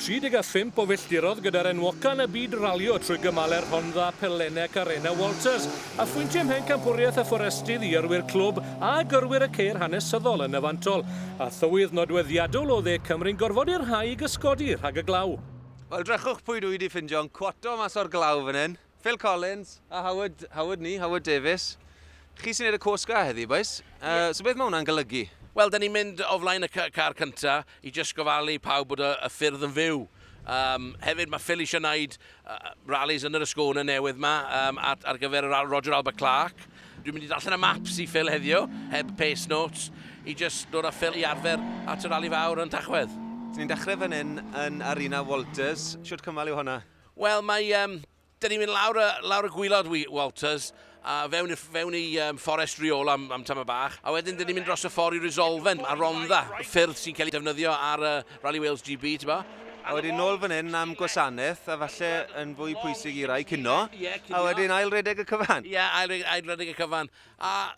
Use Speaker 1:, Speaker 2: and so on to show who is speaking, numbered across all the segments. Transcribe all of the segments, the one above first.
Speaker 1: 35 o filltirodd gyda'r enwoca yn y byd ralio trwy gymalau Rhondda, Pellene ac Arena Walters, a phwyntiau ymhen campwriaeth y fforestydd i yrwyr clwb a gyrwyr y ceir hanesyddol yn y fantol, a thywydd nodweddiadol o dde Cymru'n gorfod i'r rhai i gysgodi rhag y glaw. Wel, drychwch pwy
Speaker 2: dwi 'di ffindio'n cwato mas o'r glaw fan hyn. Phil Collins a Howard, Howard ni, Howard Davies. Chi sy'n neud y cwrs ga heddi, boys. Uh, so beth mae hwnna'n golygu? Wel, da ni'n mynd o
Speaker 3: flaen y car cynta i just gofalu pawb bod y, y ffyrdd yn fyw. Um, hefyd mae Phil eisiau gwneud uh, rallies yn yr ysgona newydd yma um, ar, ar gyfer yr Roger Albert Clark. Dwi'n mynd i allan y maps i Phil heddiw, heb pace notes, i just dod â Phil i arfer at y rally fawr yn Tachwedd. Ni'n dechrau fan hyn
Speaker 2: yn Arena Walters. Siwt cymal yw hwnna? Wel, mae... Um,
Speaker 3: da ni'n mynd lawr y, lawr y gwylod, Walters, a fewn, fewn i um, fforest riol am, am tam y bach, a wedyn dyn ni'n mynd dros y ffordd i Resolven, a Rondda, ffyrdd sy'n cael ei defnyddio ar uh, Rally Wales GB, ti'n bo? A wedyn nôl fan
Speaker 2: hyn am gwasanaeth, a falle yn fwy pwysig i rai cynno, a wedyn ail redeg y cyfan. Ie, yeah, ail, ail redeg
Speaker 3: y cyfan. A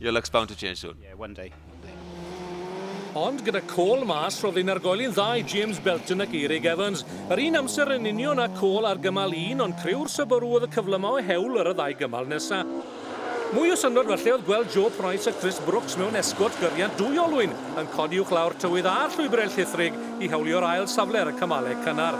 Speaker 2: Your luck's bound to change soon. Yeah, one day. One day.
Speaker 1: Ond gyda Cole mas, roedd ein argoeli'n dda i James Belton ac Eirig Evans. Yr un amser yn union a Cole ar gymal un, ond criw'r Subaru oedd y cyfle yma o hewl ar y ddau gymal nesaf. Mwy o syndod felly oedd gweld Joe Price a Chris Brooks mewn esgort gyriant dwy olwyn yn codi uwch lawr tywydd a'r llwybrau llithrig i hewlio'r ail safle ar y cymalau cynnar.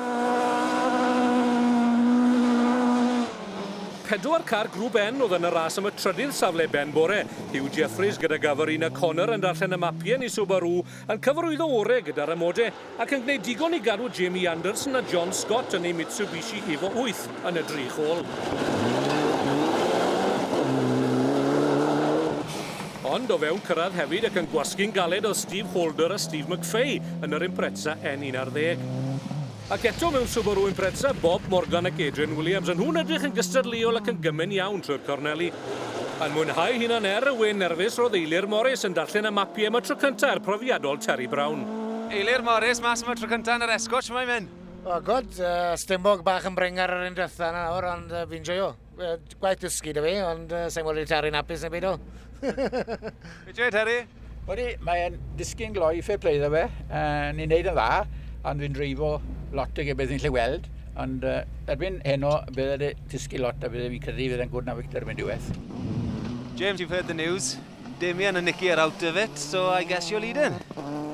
Speaker 1: Pedwar car Grŵp N oedd yn y ras am y trydydd safle ben bore. Huw Jeffreys gyda Gavarina Connor yn darllen y mapiau ni Subaru yn cyfarwyddo orau gyda'r amodau ac yn gwneud digon i gadw Jamie Anderson a John Scott yn eu Mitsubishi Evo 8 yn y drych ôl. Ond o fewn cyrraedd hefyd ac yn gwasgu'n galed oedd Steve Holder a Steve McFay yn yr Impreza N11. Ac eto mewn Subaru Impreza, Bob Morgan ac Adrian Williams, a nhw'n edrych yn gystadleuol ac yn gymen iawn trwy'r corneli. Yn mwynhau hunan er y wyn nerfus roedd Eilir Morris yn darllen y mapiau am y tro cyntaf i'r profiadol Terry Brown. Eilir Morris
Speaker 2: mas am y tro cyntaf yn yr Escort, shwmae myn? O gwd, yy,
Speaker 4: stumog bach yn brengar yr un diwetha' 'na nawr ond yy fi'n joio. Gwaith dysgu da fi, ond uh, sa'n gweld i taru'n apus na byd o.
Speaker 2: Be ti'n Harry? Wedi, mae'n
Speaker 5: disgyn gloi fe play dda fe. Uh, ni'n neud yn dda, ond fi'n dreifo lot o ge beth ni'n lle weld. Ond uh, erbyn heno, bydd wedi disgyn lot a bydd fi'n credu fydd e'n gwrdd na Victor mynd diwedd. James,
Speaker 2: you've heard the news. Damien and Nicky are out of it, so I guess you're leading.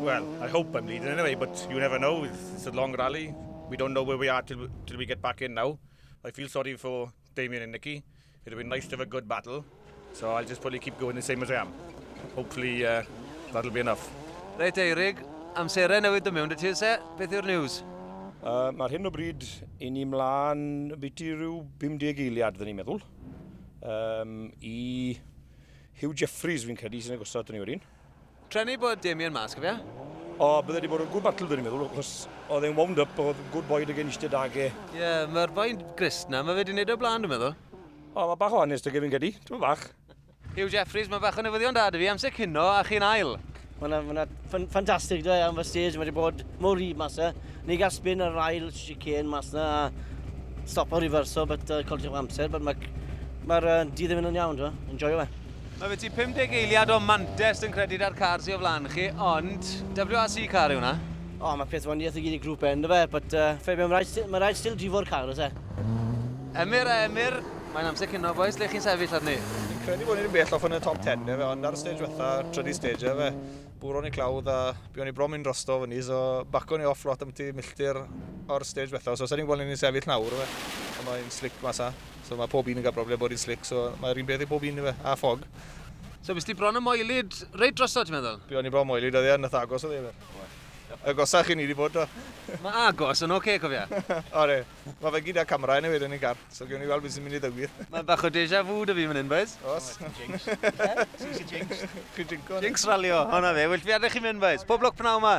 Speaker 2: Well, I
Speaker 6: hope I'm leading anyway, but you never know. It's, it's a long rally. We don't know where we are till, till we get back in now. I feel sorry for Damien and Nikki. It would be nice to have a good battle. So I'll just probably keep going the same as I am. Hopefully uh, that'll be enough. Reit Eirig,
Speaker 2: amserau newid yn mewn dy ti, se? Beth yw'r news? Uh, Mae'r hyn
Speaker 6: o bryd i ni mlaen byti rhyw 50 eiliad, dyn ni'n meddwl. Um, I Hugh Jeffries fi'n credu sy'n agosod yn ni wedyn. Trefnu i bod
Speaker 2: Damien mas, cofia? O, bydde wedi
Speaker 6: bod yn good battle, dwi'n i'n meddwl, achos oedd e'n wound up, oedd good boy dy genist dy dage. Ie, yeah, mae'r boi
Speaker 2: grist na, mae fe wedi gwneud o'r blaen, dwi'n meddwl. O, mae bach o
Speaker 6: hanes dy gefyn gedi, ti'n bach. Hugh Jeffries,
Speaker 2: mae bach o newyddion da dy fi, amser cino a chi'n ail. Mae'n yna
Speaker 7: ffantastig dwi am fy stage, mae wedi bod mor rhydd mas e. Ni gael spin ar yr ail chicane mas na, a stop o reverso, but uh, colli'r amser, but mae'r ma, uh, di ddim yn iawn, enjoy o fe. Mae fe ti 50
Speaker 2: eiliad o Mantes yn credyd ar car sy o flan chi, ond WRC car yw hwnna? O, mae peth waniaeth
Speaker 7: i gyd i grŵp e, ynddo fe, but uh, fe mae rhaid, mae rhaid still drifo'r car, os e? Emyr
Speaker 2: a Emyr, mae'n amser cino boys, lle chi'n sefyll arni? Fi'n credu bod ni ddim bell
Speaker 6: off yn y top 10 fe, ond ar y stage fetha, trydydd stage e fe, bwron i clawdd a buon ni bron mynd drosto fy ni, so baco ni off lot am ti milltir o'r stage fetha, so sa'n ni'n gweld ni'n sefyll nawr fe, ond mae'n slick masa. So mae pob un yn cael broblem bod hi'n slick, so mae'r un peth i pob un i fe, a ffog. So bys ti
Speaker 2: bron y moelyd reit drosodd, ti'n meddwl? Be o'n i bron moelyd oedd e,
Speaker 6: nath agos oedd e fe. Agosach i ni wedi bod o. Mae agos
Speaker 2: yn oce, okay, cofia. o re,
Speaker 6: mae fe gyda camera yn ei wedyn i'n car, so gewn ni weld beth sy'n mynd i ddigwydd. Mae bach o deja vu
Speaker 2: dy fi fan hyn, boys. Os. Jinx. Jinx. Jinx. Jinx ralio, hwnna fe. Wyll fi adeg chi'n mynd, boys. Pob lwc pnaw yma.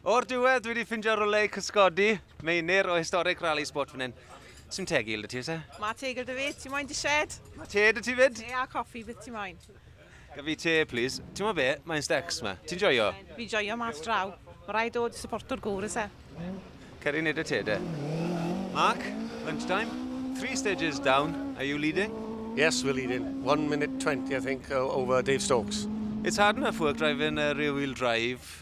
Speaker 2: O'r diwedd, dwi wedi ffindio rwle i cysgodi, meinir o historic rally spot fan hyn. Sy'n teg i ti, se? Mae teg gyda fi, ti
Speaker 8: moyn di shed? Mae te dy ti fyd?
Speaker 2: Te a coffi, beth ti
Speaker 8: moyn? Gaf fi te,
Speaker 2: please. Ti'n mo be, mae'n stecs ma. Ti'n joio? Fi joio mas
Speaker 8: draw. Mae rhaid dod i supporto'r gŵr, is e? Ceri nid
Speaker 2: y te, de. Mark, lunchtime. Three stages down. Are you leading? Yes, we're leading.
Speaker 9: One minute twenty, I think, over Dave Stokes. It's hard enough
Speaker 2: work driving a rear-wheel drive.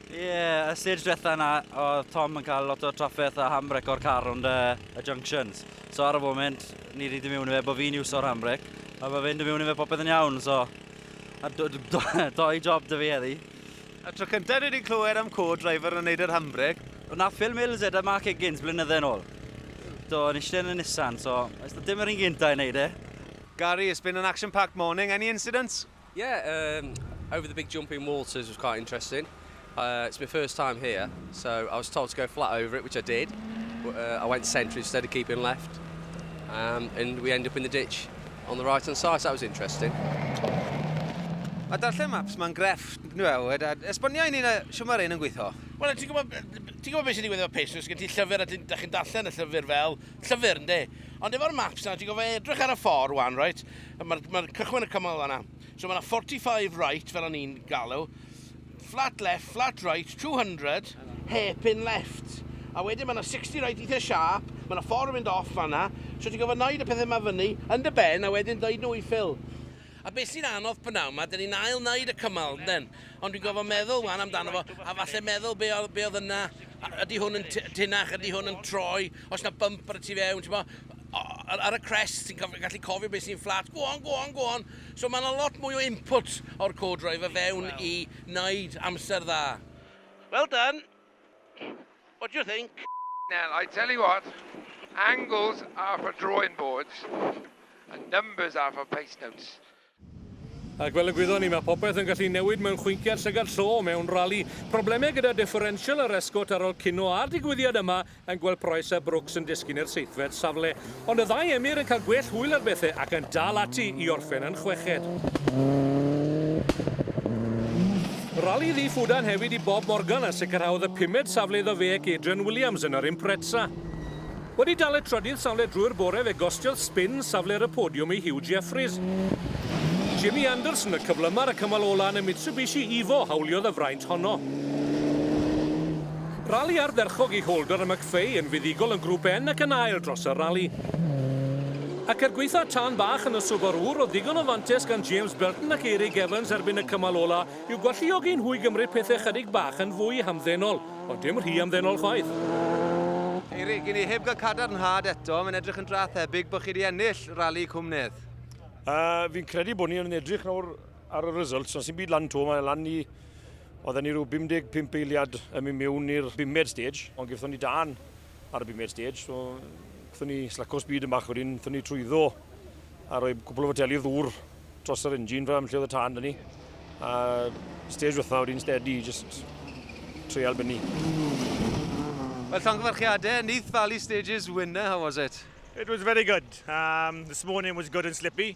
Speaker 2: Ie, y
Speaker 10: stage diwetha yna oedd Tom yn cael lot o trafferth a handbrake o'r car rownd y, y junctions. So ar y foment, ni wedi dod mewn i fe bod fi'n iwso'r handbrake, a bod fe'n dod mewn i fe popeth yn iawn, so... A do, do, do, doi job dy fi eddi. A tro cyntaf
Speaker 2: dwi wedi clywed am co-driver yn neud yr handbrake. Wna Phil Mills e,
Speaker 10: da Mark Higgins, blynydde yn ôl. Do, yn eistedd yn y Nissan, so... Dim yr un gyntaf i neud e. Gary, it's been
Speaker 2: an action-packed morning. Any incidents? Yeah,
Speaker 11: um, over the big jumping walters was quite interesting. Uh, it's my first time here, so I was told to go flat over it, which I did. But, uh, I went centre instead of keeping left, um, and we end up in the ditch on the right hand side, so that was interesting.
Speaker 2: Mae darllen maps mae'n grefft, nhw e, a esbonio i ni'n siwm ar ein yn gweithio. Wel, ti'n gwybod,
Speaker 3: ti'n gwybod beth sy'n digwydd efo Pacers, gen ti llyfr a ti'n chi'n darllen y llyfr fel, Llyfr, ynde. Ond efo'r maps 'na, ti'n gorfod edrych ar y ffordd 'wan, reit? Mae'r ma cychwyn y cymal fanna. So mae yna 45 right, fel o'n i'n galw. Flat left, flat right, 200, hairpin left. A wedyn mae yna 60 right eitha sharp, mae yna ffordd yn mynd off fanna. So ti'n gorfod wneud y pethau yma fyny, yn dy ben, a wedyn dweud nhw i Phil. A be sy'n anodd p'nawn 'ma, 'dyn ni'n ail wneud y cymal, ynden? Ond dwi'n gorfod meddwl 'wan amdano fo, a falle meddwl be oedd be oedd yna, a ydy hwn yn t- tinach, ydy hwn yn troi, oes 'na bump ar y tu fewn, t'mo'? O, ar ar y crest ti'n cof- gallu cofio be sy'n fflat, go on, go on, go on! So ma' 'na lot mwy o input o'r co-driver fewn i wneud amser dda. Well done! What do you think? Now, I tell you
Speaker 12: what, angles are for drawing boards, and numbers are for pace notes.
Speaker 1: Ac fel y gwyddon ni, mae popeth yn gallu newid mewn chwinciad llygad llo mewn rali. Problemau gyda differential yr esgôt ar ol cino a'r digwyddiad yma yn gweld Price a Brooks yn disgyn i'r seithfed safle. Ond y ddau emyr yn cael gwell hwyl ar bethe ac yn dal ati i orffen yn chweched. Rali ddu ffwdan hefyd i Bob Morgan a sicrhaodd y pumed safle iddo fe ac Adrian Williams yn yr Impreza. Wedi dal y trydydd safle drwy'r bore fe gostiodd sbin safle'r y podiwm i Huw Jeffreys. Jimmy Anderson y cyflymar y cymal ola yn y Mitsubishi Evo hawliodd y fraint honno. Rali ardderchog i Holder a McFay yn fuddugol yn Grŵp N ac yn ail dros y rali. Ac er gwaetha tân bach yn y Subaru, roedd ddigon o fantais gan James Burton ac Eirig Evans erbyn y cymal ola i'w gwalluogi nhw i gymryd pethau chydig bach yn fwy hamddenol, ond dim rhy amddenol chwaith.
Speaker 2: Eirig, i ni heb gael cadarnhad eto, mae'n edrych yn dra thebyg bod chi wedi ennill rali Cwm Nedd. Yy, fi'n
Speaker 13: credu bod ni yn edrych nawr ar y results, ond sy'n byd lan to, mae lan i Oedden ni rhyw 55 eiliad yn mynd mewn i'r bumed stage, ond gyfthon ni dan ar y bumed stage, so gyfthon ni slaco speed yn bach wedyn, gyfthon ni trwyddo a rhoi cwbl o foteli o ddŵr dros yr engine fel am lle oedd y tan dyn ni. A stage wrtha wedyn steady, just treial bynnu.
Speaker 2: Wel, llongyfarchiadau, Neath Valley Stages winner, how was it? It was very good.
Speaker 13: Um, this morning was good and slippy.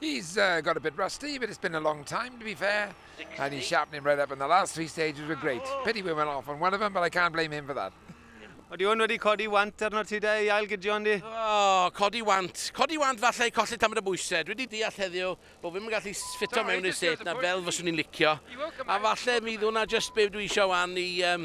Speaker 2: He's uh,
Speaker 12: got a bit rusty, but it's been a long time, to be fair. And he's sharpening right up, and the last three stages were great. Pity we went off on one of them, but I can't blame him for that. Wedi hwn wedi
Speaker 2: codi want arno ti de i ail gydion di? Oh, codi
Speaker 3: want. Codi want falle i colli tamad o bwysau. Dwi wedi deall heddiw bod fi'n mynd gallu ffito mewn i'r set na fel fyswn i'n licio. A falle mi ddwna just be dwi eisiau wan i um,